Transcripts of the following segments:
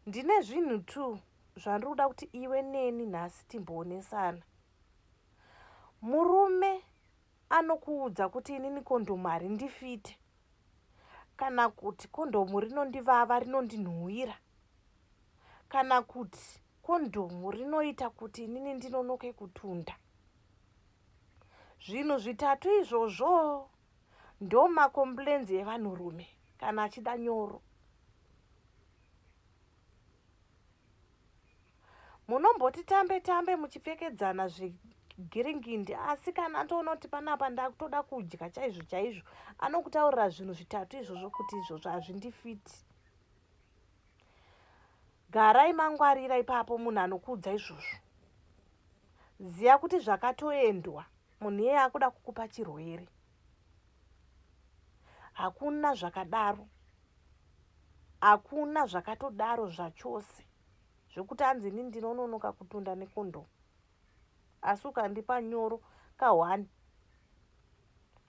Ndine zvinhu two zvandiri kuda kuti iwe neni nhasi timboonesana. Murume anokuudza kuti inini kondhomu harindifite kana kuti kondhomu rinondivava rinondinhuwira kana kuti kondhomu rinoita kuti inini ndinonoke kutunda. Zvinhu zvitatu izvozvo ndomacomplains evanhurume kana achida nyoro munomboti tambe tambe muchipfekedzana zvegiringindi asi kana atoona kuti panapa ndakutoda kudya chaizvo chaizvo anokutaurira zvinhu zvitatu izvozvo kuti izvozvo hazvindifiti garai mangwarira ipapo munhu anokuudza izvozvo ziva kuti zvakatoendwa Munhu iyeye akuda kukupa chirwere. Hakuna zvakadaro. Hakuna zvakatodaro zvachose. Zvekuti anzi ini ndinononoka kutunda nekondo. Asi ukandipa nyoro ka one.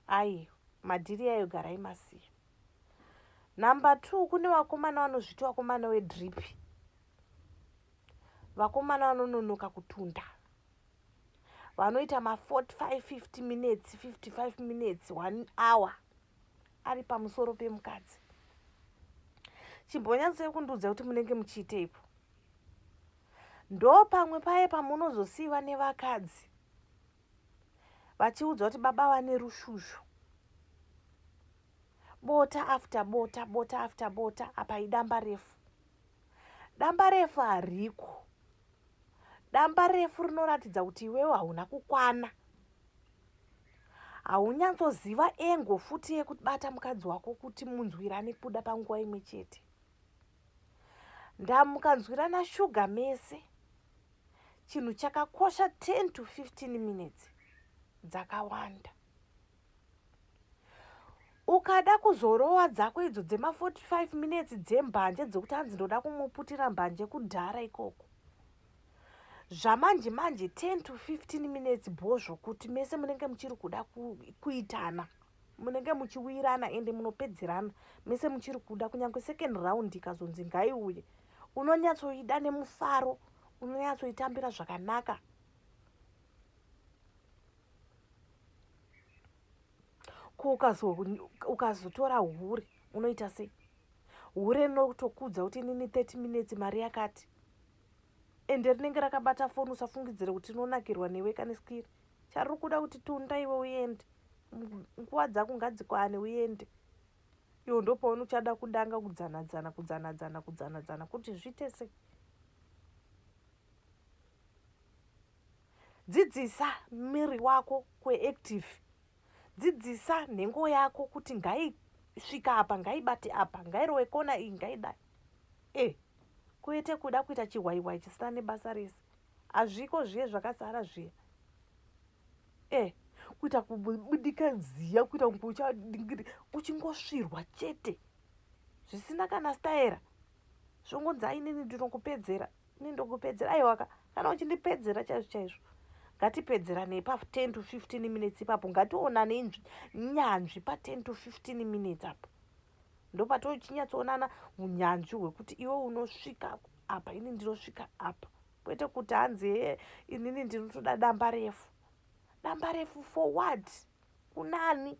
Ayi, madhiri yayo garai masiya. Number two, kune vakomana vanozviti vakomana wedripi. Vakomana vanononoka kutunda. vanoita ma 45 50 minutes 55 minutes one hour ari pamusoro pemukadzi chimbonyatsoi kundiudza kuti munenge muchiiteipo ndo pamwe paye pamunozosiiva nevakadzi vachiudzwa kuti baba vane rushushu bota after bota bota after bota apa idamba refu damba refu hariko damba refu rinoratidza kuti iwewe hauna kukwana haunyatsoziva engo futi yekubata mukadzi wako kuti munzwirane kubuda panguva imwe chete ndamukanzwirana shuga mese chinhu chakakosha 10 to 15 minutes dzakawanda ukada kuzorowa dzako idzo dzema 45 minutes dzembanje dzekuti hanzi ndoda kumuputira mbanje kudhara ikoko zvamanje manje 10 to 15 minutes bho zvokuti mese munenge muchiri kuda kuitana munenge muchiwirana ende munopedzerana mese muchiri kuda kunyange second round ikazonzi ngaiuye unonyatsoida nemufaro unonyatsoitambira zvakanaka ko ukazotora hure unoita sei hure rinotokudza kuti inini 30 minutes mari yakati ende rinenge rakabata foni usafungidzire kuti rinonakirwa newe kane skiri chariri kuda kuti tunda iwe uende nguva dzako ngadzikwane uende iwo ndopaona uchada kudanga kudzanadzana kudzanadzana kudzanadzana kuti zviite sei Dzidzisa miri wako kuactive. Dzidzisa nhengo yako kuti ngaisvika apa, ngaibate apa, ngairowe kona iyi, ngaidai. E, eh, kuete kuda kuita chihwaihwai chisina nebasa rese. Hazviko zviye zvakasara zviya. E, eh, kuita kubudika nziya, kuita kuchadingiri, uchingosvirwa chete. Zvisina kana staera. Zvongonzi ainini ndinokupedzera. E, ini ndokupedzera aiwa ka kana uchindipedzera chaizvo chaizvo ngatipedzeranei pa 10 to 15 minutes ipapo ngationane inzvi nyanzvi pa 10 to 15 minutes apo ndopatochinyatsonana unyanzvi hwekuti iwe unosvika apa ini ndinosvika apa kwete kuti hanzi hee inini ndinotoda damba refu damba refu for what kunani